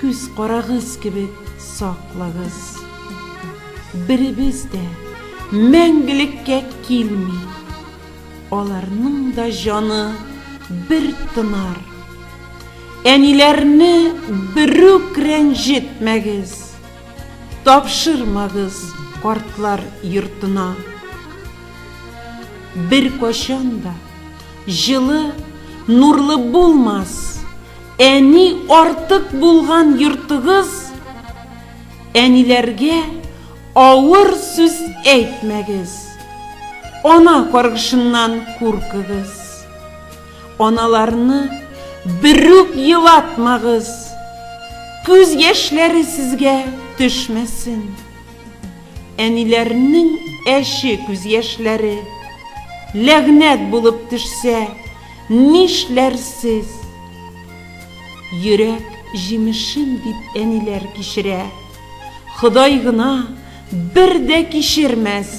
Күз карагыз кебек саклагыз. Беребез дә мәңгелеккә килми. Аларның да җаны бер тынар. Әниләрне берүк рәнҗетмәгез. Тапшырмагыз картлар йортына. Беркайчан да җылы, нурлы булмас. Әни артык булган йортыгыз Әниләргә авыр сүз әйтмәгез. Ана каргышыннан куркыгыз. Аналарны берүк елатмагыз. Күз яшьләре сезгә төшмәсен. Әниләрнең әче күз яшьләре ләгънәт булып төшсә, Нишләрсез? Йөрәк җимешем дип әниләр кичерә. Ходай гына бер дә кичермәс!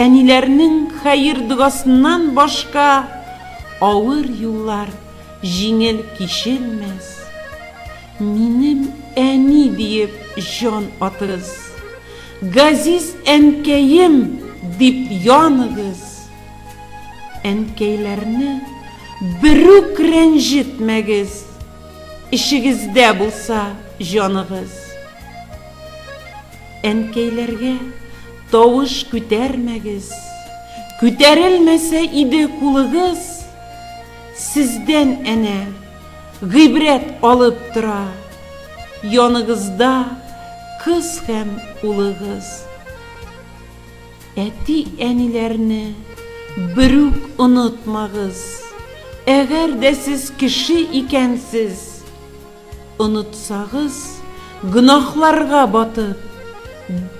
Әниләрнең хәер-догасыннан башка авыр юллар җиңел кичелмәс. Минем әни диеп җан атыгыз. Газиз әнкәем дип яныгыз. Әнкәйләрне берүк рәнҗетмәгез, эчегездә булса җаныгыз. Әнкәйләргә тавыш күтәрмәгез, күтәрелмәсә иде кулыгыз, сездән әнә гыйбрәт алып тора, яныгызда кыз һәм улыгыз. Әти-әниләрне берүк онытмагыз, әгәр дә сез кеше икәнсез, онытсагыз, гөнаһларга батып,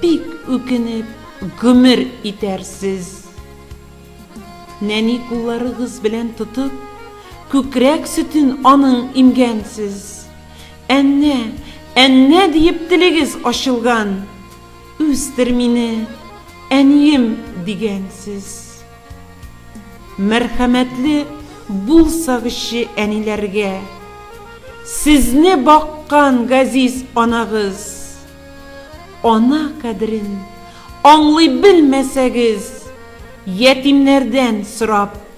бик үкенеп гомер итәрсез. Нәни кулларыгыз белән тотып, күкрәк сөтен аның имгәнсез. Әннә, әннә диеп телегез ачылган. Үстер мине, әнием, дигәнсез. Мәрхәмәтле булсагызчы әниләргә. Сезне баккан газиз анагыз. Ана кадерен аңлый белмәсәгез, ятимнәрдән сорап.